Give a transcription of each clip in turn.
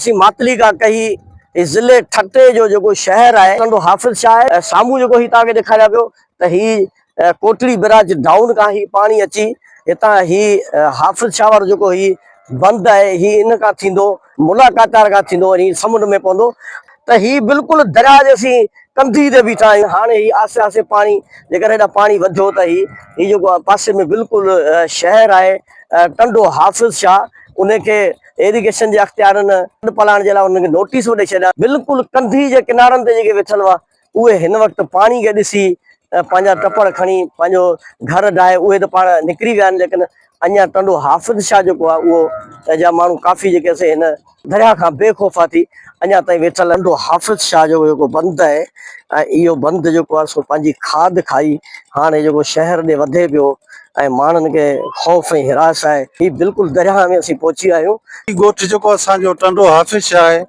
اسين ماتلي کان ڪهي هي ضلعي ٺٽي جو جيڪو شهر آهي ٽنڊو حافظ شاهه آهي ۽ سامهون جيڪو هي توهانکي ڏيکاريان پيو ته هي ڪوٽڙي برج ڊائون کان هي پاڻي اچي هتان هي حافظ شاهه وارو جيڪو هي بند آهي هي ان کان ٿيندو ملا ڪاتار کان ٿيندو وڃي سمنڊ ۾ پوندو ته هي بلڪل درياء جي اسين ڪنڌي تي بيٺا آهيون هاڻي هي آسي آسي پاڻي جيڪڏهن هيڏانهن پاڻي وڌيو ته هي هي جيڪو پاسي ۾ بلڪل شهر آهي ٽنڊو حافظ شاهه ان کي ايريگيشن جي اختيارن ڏڍ پلاڻ جي لاء انهن کي نوٽيس به ڏئي ڇڏيا بلڪل ڪنڌي جي ڪنارن تي جيڪي ويٺل هئا اهي هن وقت پاڻي کي ڏسي پنهنجا ٽپڙ کڻي پنهنجو گهر ڊاهي اهي ته پاڻ نڪري ويا آهن ليڪن اڃا ٽنڊو حافظ شاهه جيڪو آهي اهو جا ماڻهو ڪافي جيڪي سي هن درياهه کان بي خوفا ٿي اڃا تائين ويٺل آهن ٽنڊو حافظ شاهه جو جيڪو بند آهي ۽ اهو بند جيڪو آهي سو پنهنجي کاڌ کائي هاڻي جيڪو شهر ڏي وڌي پيو ۽ ماڻهن کي خوف ۽ هراس آهي. هي بلڪل درياهه ۾ اسين پهچي ويا آهيون. هي ڳوٺ جيڪو اسان جو ٽنڊو حافظ شاهه آهي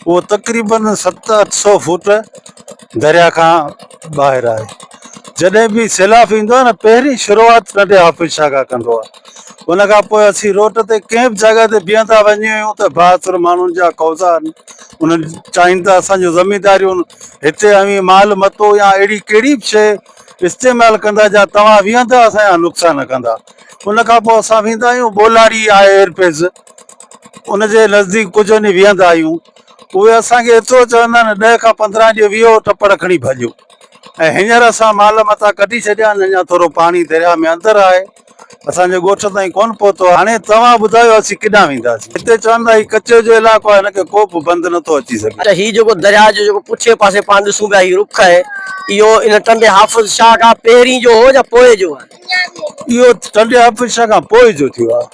اهو تقريبن ست اٺ سئو فوٽ درياهه کان ٻاهر آهي. جڏهن به سيلاب ايندو آهي نه پهرين شروعات ٽنڊي حافظ شاهه کان ڪندو آهي. ان کان پوء اسين روٽ تي ڪنهن به جاڳا تي بيهندا وڃي آهيون ته بااثر ماڻهن جا قوضا آهن. انهن چاهين ته اسان جون زمينداريون هتي اوهين مال متو يا اهڙي ڪهڙي به شيء استعمال ڪندا جا توهان ويهندا اسان جا نقصان ڪندا ان کان پوء اسان ويندا آهيون ٻولاڙي آهي ايئر پيس ان جي نزديڪ ڪجهه وڃي ويهندا آهيون اهي اسانکي ايترو چوندا آهن ڏهه کان پندرهن ڏينهن ويهو ٽپڙ کڻي ڀڄو ۽ هينئر اسان مال متان ڪڍي ڇڏيا آهن اڃا ٿورو پاڻي درياء ۾ اندر آهي اسان جو ڳوٺ تائين ڪونه پهتو آهي. هاڻي توهان ٻڌايو اسين ڪيڏانهن وينداسين. هتي چون ٿا هي ڪچي جو علائقو آهي هن کي ڪو به بند نٿو اچي سگهي. ته هي جيڪو درياء جو جيڪو پٺئين پاسي پاڻ ڏسون پيا هي رخ آهي اهو ان ٽنڊي حافظ شاهه کان پهرين جو هو يا پوء جو آهي؟ اهو ٽنڊي حافظ شاهه کان پوء جو ٿيو آهي.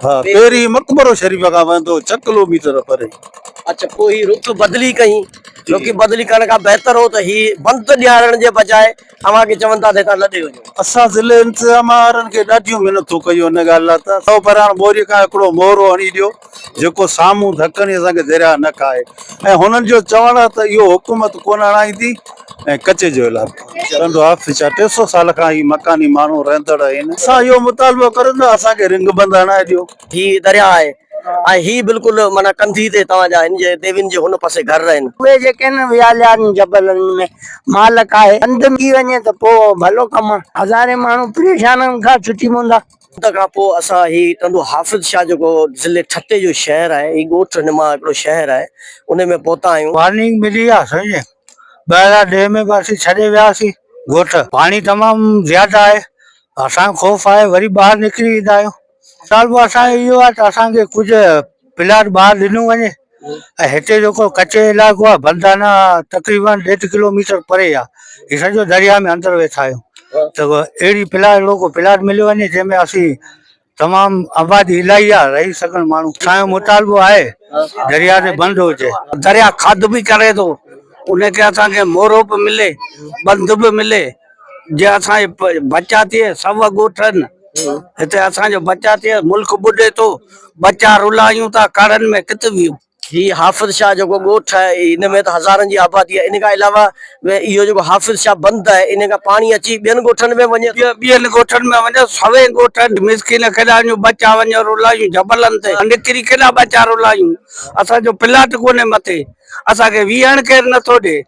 ها پهرين مقبرو شريف کان وهندو هو ڇهه ڪلو ميٽر پري. اڇا پوء هي رخ بدلي ڪئين. رخ بدلي ڪرڻ کان بهتر هو ته هي بند ڏيارڻ جي بجاء اوهان کي چون ٿا ته هتان لڏي وڃو. اسان ضلعي انتظام وارن کي ڏاڍيون منٿون ڪيون ان ڳالهه لاء ته سؤ پراڻ ٻوري کان هڪڙو مورو هڻي ڏيو جيڪو سامهون ڌڪڻي اسان کي درياهه نه کائي ۽ هنن جو چوڻ آهي ته اهو حڪومت ڪونه هڻائيندي ۽ ڪچي جو علائقو رهندو آهي ڇا ٽي سؤ سال کان هي مڪاني ماڻهو رهندڙ آهن. اسان اهو مطالبو ڪريون ته اسان کي رنگ بند هڻائي ڏيو. هي درياهه آهي ۽ هي بلڪل معنيٰ ڪنڌي تي توهان جا هن جي ديوين جي هن پاسي گهر آهن. اهي جيڪي هن وياليارن جبلن ۾ مالڪ آهي. هنڌ ملي وڃي ته پوء ڀلو ڪم آهي. هزارين ماڻهو پريشانين کان ڇٽي پوندا. ان کان پوء اسان هي ٽنڊو حافظ شاهه جيڪو ضلعي ٺٽي جو شهر آهي هي ڳوٺ نما هڪڙو شهر آهي انهي ۾ پهتا آهيون. وارننگ ملي آهي سمجهي ٻاهران ڏيهه ۾ به اسين ڇڏي وياسين ڳوٺ پاڻي تمام زياده آهي اسان کي خوف آهي وري ٻاهر نڪري ايندا آهيون مطالبو اسان جو اهو آهي ته اسان کي ڪجهه پلاٽ ٻاهر ڏنو وڃي ۽ هتي جيڪو ڪچي علائقو آهي بندانا تقريبن ڏيڍ ڪلوميٽر پري آهي هي سڄو درياء ۾ اندر ويٺا آهيون ته اهڙي پلاٽ اهڙو ڪو پلاٽ مليو وڃي جنهن ۾ اسين تمام آبادي الاهي آهي رهي سگهن ماڻهو اسان جو مطالبو آهي درياء تي بند هجي درياء کاڌ به ڪري ٿو ان کي اسان کي مورو به ملي بند به ملي جي اسان جي بچا ٿئي سڀ ڳوٺن هتي اسان جو بچا ٿئي ملڪ ٻڏي ٿو بچا رلايون ٿا ڪڙن ۾ ڪٿ ويون هي حافظ شاهه جيڪو ڳوٺ آهي ان ۾ ته هزارن جي آبادي آهي ان کان علاوه اهو جيڪو حافظ شاهه بند آهي ان کان پاڻي اچي ٻين ڳوٺن ۾ وڃي ٿو ٻين ڳوٺن ۾ وڃي سوين ڳوٺن مسڪين ڪيڏا وڃون بچا وڃي رلايون جبلن تي نڪري ڪيڏا بچا رلايون اسان جو پلاٽ ڪونهي مٿي اسان کي ويهڻ ڪير نٿو ڏي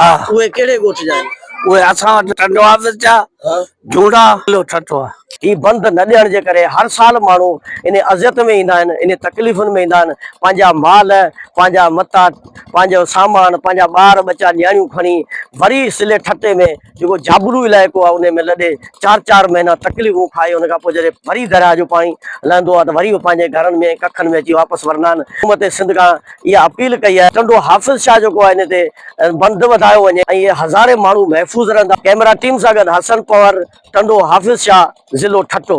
ها اهي ڪهڙي ڳوٺ جا آهن؟ اهي اسان وٽ ٽنڊو حافظ جا جهونڊا ضلعو ٺٽو آهي. هي بند نه ڏيڻ جي ڪري هر سال ماڻهو انهي اذيت ۾ ايندا آهن انهي تڪليفن ۾ ايندا آهن پنهنجا مال پنهنجا متاع پنهنجو سامان پنهنجا ٻار ٻچا نياڻيون کڻي وري ضلعي ٺٽي ۾ جيڪو جابلو علائقو آهي انهي ۾ لڏي چار چار مهينا تڪليفون کائي ان کان پوء جڏهن وري درياهه جو پاڻي لهندو آهي ته وري اهي پنهنجي گهرن ۾ ڪکن ۾ اچي واپس ورندا آهن حڪومت سنڌ کان اها اپيل ڪئي آهي ٽنڊو حافظ شاهه جيڪو آهي ان تي بند وڌايو وڃي ۽ اهي هزارين ماڻهو محفوظ رهندا ڪيمرا ٽيم سان گڏ حسن پنور ٽنڊو حافظ شاهه ضلعو ٺٽو.